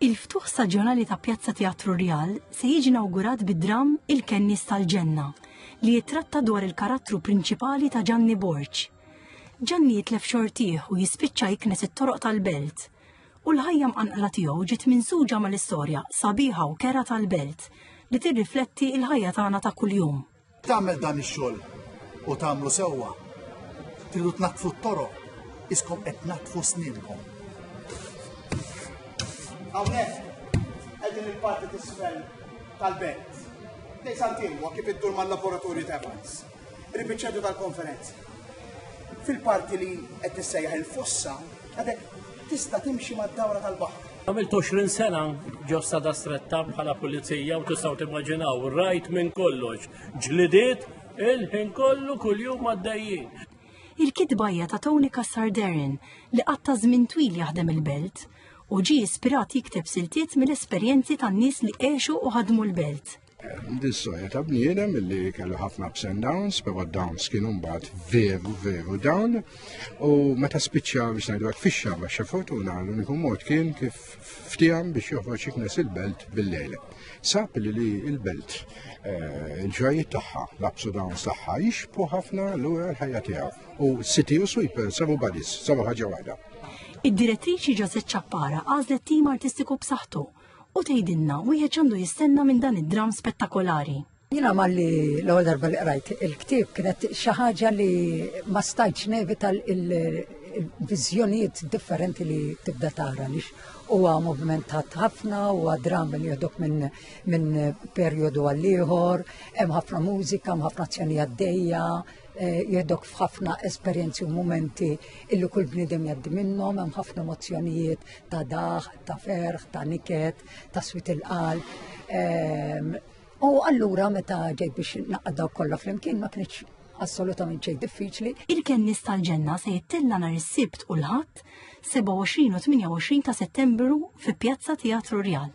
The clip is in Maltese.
Il-ftuħ staġjonali ta' Pjazza Teatru Rjal se jiġi inawgurat bid-dramm Il-Kennies tal-Ġenna li jittratta dwar il-karattru prinċipali ta' Ġanni Borg. Ġanni jitlef xortih u jispiċċa jiknes it-toroq tal-belt. U l-ħajja mqanqla tiegħu ġiet minsuġa mal-istorja sabiħa u kera tal-belt li tirrifletti l-ħajja tagħna ta' kuljum. Tagħmel dan ix-xogħol u tagħmlu sewwa. Tridu tnaqqfu t-toroq, iskom qed naqqfu sninkom. Hawnhekk qegħdin il-parti tisfel tal-belt. Dej santinwa kif iddur mal-laboratorju ta' Evans. Ribiċċedu tal-konferenza. Fil-parti li qed tissejjaħ il-fossa, għadek tista' timxi mad-dawra tal-baħar. Għamilt 20 sena ġo sada stretta bħala pulizija u tistaw timmaġinaw, rajt minn kollox, ġlidiet il-ħin kollu kull-jum għaddejjin. Il-kitba hija ta' Tony Cassarderin li qatta żmien twil jaħdem il-belt u ġie ispirat jikteb siltiet mill-esperjenzi tan-nies li għexu u ħadmu l-belt. Dis-soja ta' bniedem li kellu ħafna ups and downs, pero downs kienu mbagħad veru veru down u meta spiċċa biex ngħidu hekk fix-xaba xi fortuna l-uniku mod kien kif ftiham biex joħroġ iknes il-belt bil-lejl. Sab li li il-belt eh, il-ġrajiet tagħha, l-ups u downs tagħha jixbu ħafna lura l-ħajja tiegħu u City u Sweeper sabu badis, sabu ħaġa waħda. Id-direttriċi Ġażet Ċappara għażlet tim artistiku b'saħħtu u tgħidilna wieħed x'għandu jistenna minn dan id-dramm spettakolari. Jina malli l-ewwel darba li qrajt il-ktieb kienet xi ħaġa li ma stajtx nevita il-viżjonijiet differenti li tibda tara lix huwa moviment ħafna, huwa dram li jodok minn min perjodu għal ieħor, hemm ħafna mużika, hemm ħafna azzjoni għaddejja, eh, jodok f'ħafna esperjenzi u momenti illi kull bniedem jaddi minnhom, hemm ħafna emozzjonijiet ta' daħ, ta' ferħ, ta' niket, ta' swit il-qal. Ehm, u allura meta ġejt biex naqdaw kollha flimkien ma kienx assolutament xejn diffiċli. Il-kennis tal-ġenna se jittilla nhar is-Sibt u l-Ħadd 27 u 28 ta' Settembru fi Pjazza Teatru Rjal.